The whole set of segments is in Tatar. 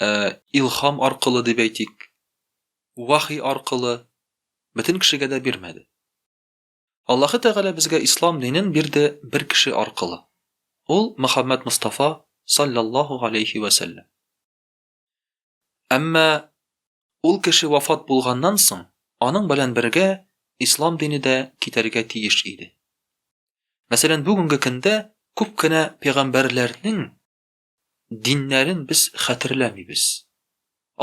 ә, илхам аркылы дип әйтик, вахи аркылы бөтен кешегә дә бирмәде. Аллаһы Тәгалә безгә ислам динен бирде бер кеше аркылы. Ул Мөхәммәд Мустафа саллаллаһу алейхи ва саллям. Әмма ул кеше вафат булганнан соң, аның белән бергә ислам дине дә китәргә тиеш иде. Мәсәлән, бүгенге көндә күп кенә пәйгамбәрләрнең диннәрен без хәтерләмибез.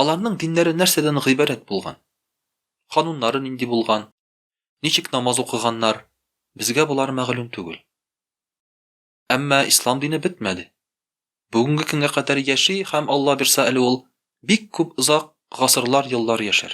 Аларның диннәре нәрсәдән гыйбарәт булган? Кануннары нинди булган? Ничек намаз укыганнар? Безгә болар мәгълүм түгел. Әмма ислам дине бетмәде. Бүгенге көнгә кадәр яши һәм Алла бирса әле ул бик күп озак гасырлар еллар яшәр.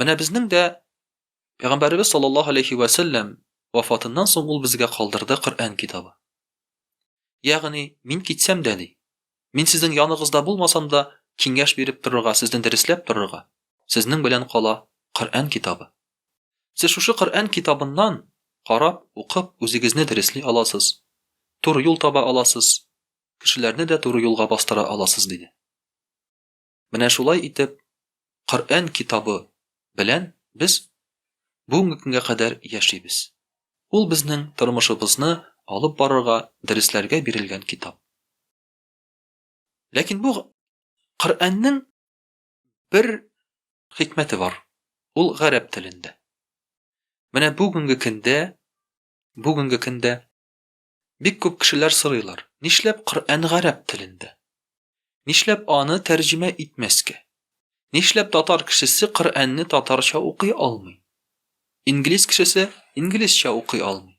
Менә безнең дә Пәйгамбәребез саллаллаһу алейхи вә сәлләм вафатыннан соң ул безгә калдырды Коръән китабы. Ягъни, мин китсәм дә, ди, мин сезнең яныгызда булмасам да, киңәш биреп торырга, сезне дөресләп торырга, сезнең белән кала Коръән китабы. Сез шушы Коръән китабыннан карап, укып, үзегезне дөресли аласыз, туры юл таба аласыз, кешеләрне дә туры юлга бастыра аласыз, диде. Менә шулай итеп, Коръән китабы белән без бүгенге көнгә кадәр яшибез. Ул безнең тормышыбызны алып барырга, дөресләргә бирелгән китап. Ләкин бу Коръәннең бер хикмәте бар, ул гарәп телендә. Менә бүгенге көндә, бүгенге көндә Бик күп кешеләр сорыйлар, нишләп Коръән гарәп телендә? Нишләп аны тәрҗемә итмәскә? Нишләп татар кешесе Коръәнне татарча укый алмый? Инглиз кешесе инглизчә укый алмый?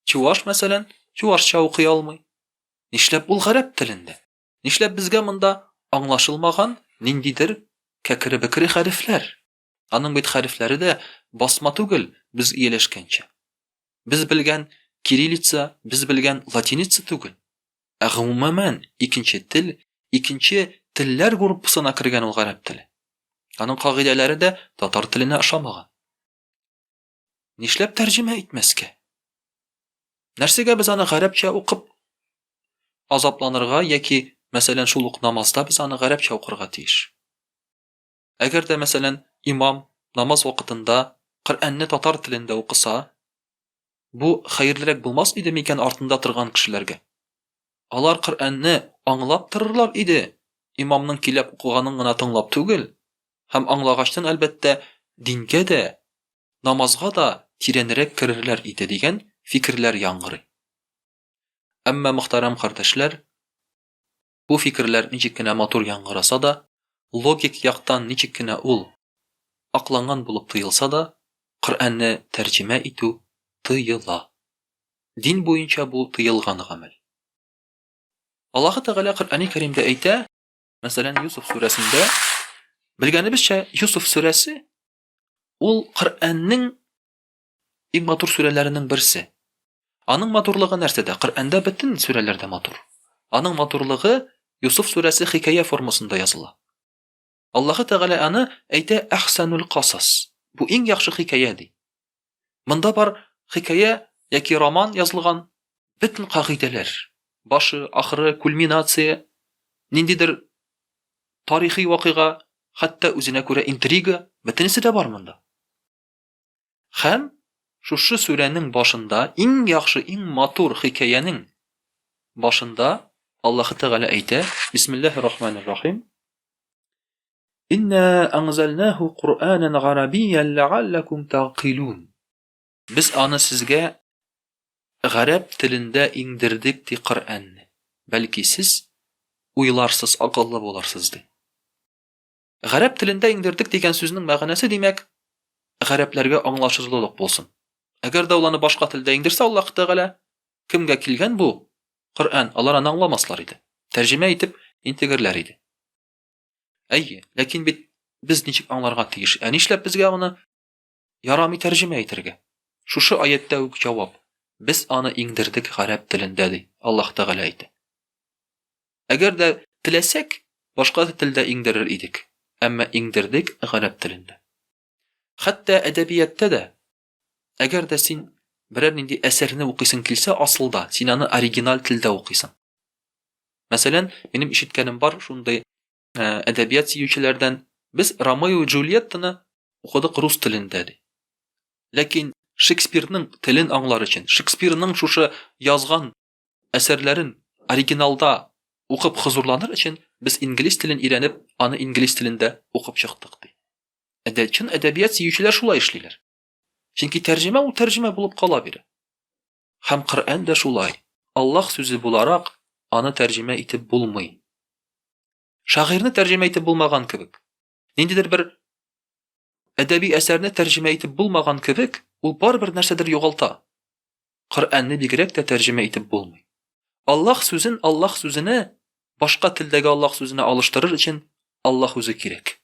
Чуваш, мәсәлән, чувашча укый алмый? Нишләп ул гарәп телендә? Нишләп безгә монда аңлашылмаган ниндидер кәкере-бекере хәрефләр? Аның бит хәрефләре дә басма түгел, без ияләшкәнчә. Без белгән кириллица, без белгән латиница түгел. Ә гомумән икенче тел, икенче телләр группасына кергән ул гарәп теле. Аның кагыйдәләре дә татар теленә ошамаган. Нишләп тәрҗемә итмәскә? Нәрсәгә без аны гарәпчә укып азапланырга яки, мәсәлән, шул ук намазда без аны гарәпчә укырга тиеш? Әгәр дә, мәсәлән, имам намаз вакытында Коръәнне татар телендә укыса, бу хәерлерәк булмас иде микән артында торган кешеләргә? Алар Коръәнне аңлап торырлар иде, имамның киләп укыганын гына тыңлап түгел, һәм аңлагачтан, әлбәттә, дингә дә, намазга да тирәнрәк керерләр иде, дигән фикерләр яңгырый. Әмма, мөхтәрәм кардәшләр, Бу фикерләр ничек кенә матур яңгыраса да, логик яктан ничек кенә ул акланган булып тоелса да, Коръәнне тәрҗемә итү тыела. Дин буенча бу тыелган гамәл. Аллаһы Тәгалә Коръәни Кәримдә әйтә, мәсәлән, Юсуф сүрәсендә, белгәнебезчә, Юсуф сүрәсе ул Коръәннең Иң матур сүрәләренең берсе. Аның матурлыгы нәрсәдә? Коръәндә бөтен сүрәләр дә матур. Аның матурлыгы Юсуф сүрәсе хикәя формасында языла. Аллаһы Тәгалә аны әйтә Әхсәнул касас. Бу иң яхшы хикәя ди. Монда бар хикәя яки роман язылган бөтен кагыйдәләр, башы, ахыры, кульминация, ниндидер тарихи вакыйга, хәтта үзенә күрә интрига, бөтенесе дә бар монда. Хәм шушы сүрәнең башында иң яхшы, иң матур хикәянең башында Аллаһ Тәгалә әйтә, Бисмиллаһи рахманир рахим. Инна анзалнаху Куранан гарабиян лааллакум тагкилун. Без аны сезгә гарәп телендә иңдердек ди Коръәнне. Бәлки сез уйларсыз, акыллы буларсыз ди. Гарәп телендә иңдердек дигән сүзнең мәгънәсе, димәк, гарәпләргә аңлашырлылык булсын. Әгәр дә ул аны башка телдә иңдерсә, Аллаһ Тәгалә, Кемгә килгән бу, Коръән, алар аны аңламаслар иде, тәрҗемә итеп, интегерләр иде. Әйе, ләкин бит без ничек аңларга тиеш? Ә нишләп безгә аны Ярамый тәрҗемә итәргә. Шушы аятьтә үк җавап, Без аны иңдердек гарәп телендә, ди Аллаһ Тәгалә әйтә. Әгәр дә теләсәк, башка телдә иңдерер идек, әмма иңдердек гарәп телендә. Хәтта әдәбияттә дә, әгәр дә син берәр нинди әсәрне укыйсың килсә, асылда син аны оригиналь телдә укыйсың. Мәсәлән, минем ишеткәнем бар шундый ә, әдәбият сөючеләрдән без Ромео и Джульеттаны укыдык рус телендә ди. Ләкин Шекспирның телен аңлар өчен, Шекспирның шушы язган әсәрләрен оригиналда укып хозурланыр өчен без инглиз телен өйрәнеп, аны инглиз телендә укып чыктык ди. Әдә чын әдәбият сөючеләр шулай эшлиләр. Чөнки тәрҗемә ул тәрҗемә булып кала бирә. Һәм Коръән дә шулай, Аллаһ сүзе буларак, аны тәрҗемә итеп булмый. Шагыйрьне тәрҗемә итеп булмаган кебек. Ниндидер бер әдәби әсәрне тәрҗемә итеп булмаган кебек, ул барыбер нәрсәдер югалта. Коръәнне бигрәк тә тәрҗемә итеп булмый. Аллаһ сүзен Аллаһ сүзенә, башка телдәге Аллаһ сүзенә алыштырыр өчен Аллаһ үзе кирәк.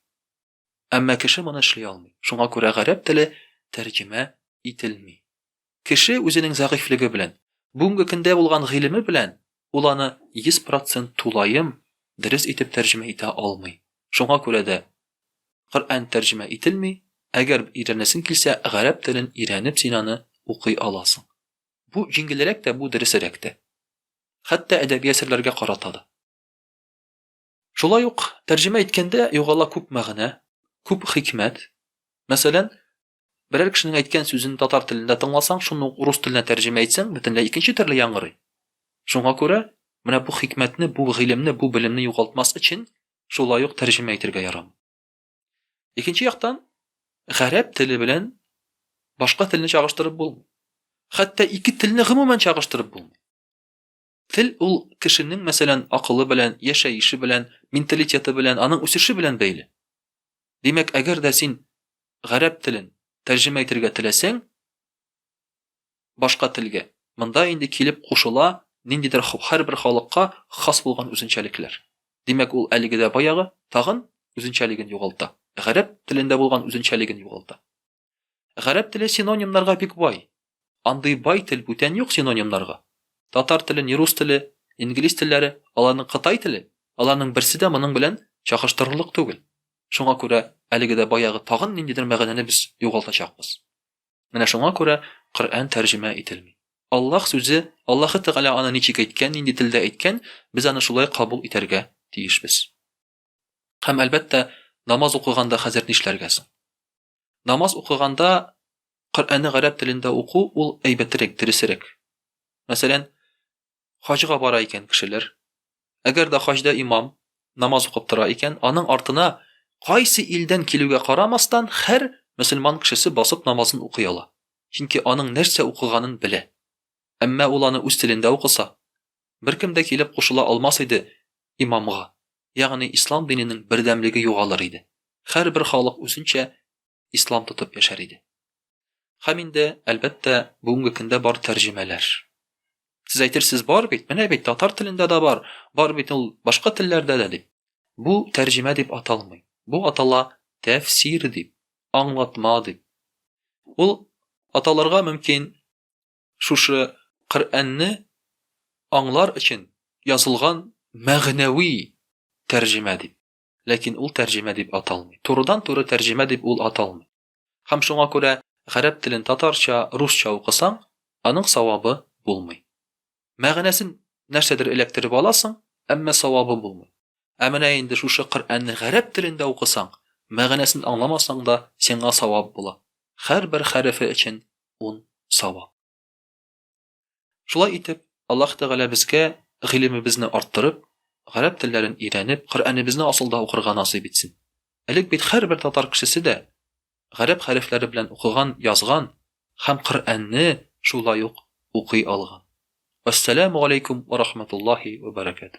Әмма кеше моны эшли алмый. Шуңа күрә гарәп теле тәрҗемә ителми. Кеше үзенең зәгыйфьлеге белән, бүгенге көндә булган гыйлеме белән ул аны 100 процент тулаем дөрес итеп тәрҗемә итә алмый. Шуңа күрә дә Коръән тәрҗемә ителми, әгәр өйрәнәсең килсә, гарәп телен өйрәнеп син аны укый аласың. Бу җиңелрәк тә, бу дөресерәк тә. Хәтта әдәби әсәрләргә карата да. Шулай ук, тәрҗемә иткәндә югала күп мәгънә, күп хикмәт. Мәсәлән, берәр кешенең әйткән сүзен татар телендә тыңласаң, шуны ук урыс теленә тәрҗемә итсәң, бөтенләй икенче төрле яңгырый. Шуңа күрә, менә бу хикмәтне, бу гыйлемне, бу белемне югалтмас өчен, шулай ук тәрҗемә итергә ярамый. Икенче яктан, гарәп теле белән башка телне чагыштырып булмый. Хәтта ике телне гомумән чагыштырып булмый. Тел ул кешенең, мәсәлән, акылы белән, яшәеше белән, менталитеты белән, аның үсеше белән бәйле. Димәк, әгәр дә син гарәп телен тәрҗемә итергә теләсәң, башка телгә, монда инде килеп кушыла ниндидер һәрбер халыкка хас булган үзенчәлекләр. Димәк, ул әлеге дә баягы, тагын, үзенчәлеген югалта. Гарәп телендә булган үзенчәлеген югалта. Гарәп теле синонимнарга бик бай. Андый бай тел бүтән юк синонимнарга. Татар теле, ни рус теле, инглиз телләре, аларның кытай теле, аларның берсе дә моның белән чагыштырырлык түгел. Шуңа күрә әлеге дә баягы тагын ниндидер мәгънәне без югалтачакбыз. Менә шуңа күрә Коръән тәрҗемә ителми. Аллаһ сүзе, Аллаһы Тәгалә аны ничек әйткән, нинди телдә әйткән, без аны шулай кабул итәргә тиешбез. Һәм, әлбәттә, намаз укыганда хәзер нишләргә соң? Намаз укыганда Коръәнне гарәп телендә уку ул әйбәтерәк, дөресерәк. Мәсәлән, хаҗга бара икән кешеләр. Әгәр дә хаҗда имам намаз укып тора икән, аның артына кайсы илдән килүгә карамастан, һәр мөселман кешесе басып намазын укый ала. Чөнки аның нәрсә укыганын белә. Әмма ул аны үз телендә укыса, Беркем дә килеп кушыла алмас иде имамга, ягъни ислам диненең бердәмлеге югалыр иде, һәрбер халык үзенчә ислам тотып яшәр иде. Һәм инде, әлбәттә, бүгенге көндә бар тәрҗемәләр. Сез әйтерсез, бар бит, менә бит, татар телендә дә бар, бар бит ул башка телләрдә дә, дип. Бу тәрҗемә дип аталмый, бу атала тәфсир дип, аңлатма дип. Ул аталырга мөмкин. Шушы Коръәнне аңлар өчен язылган мәгънәви тәрҗемә дип. Ләкин ул тәрҗемә дип аталмый. Турыдан-туры тәрҗемә дип ул аталмый. Һәм шуңа күрә гарәп телен татарча, русча укысаң, аның савабы булмый. Мәгънәсен нәрсәдер эләктереп аласың, әмма савабы булмый. Ә менә инде шушы Коръәнне гарәп телендә укысаң, мәгънәсен аңламасаң да, сиңа савап була. Һәрбер хәрефе өчен ун савап. Шулай итеп, Аллаһ Тәгалә безгә гыйлемебезне арттырып, гарәп телләрен өйрәнеп, Коръәнебезне асылда укырга насыйп итсен. Элек бит һәрбер татар кешесе дә гарәп хәрефләре белән укыган, язган һәм Коръәнне шулай ук укый алган. Вәссәламү галәйкүм вә рахматуллаһи вә бәрәкәтүһ.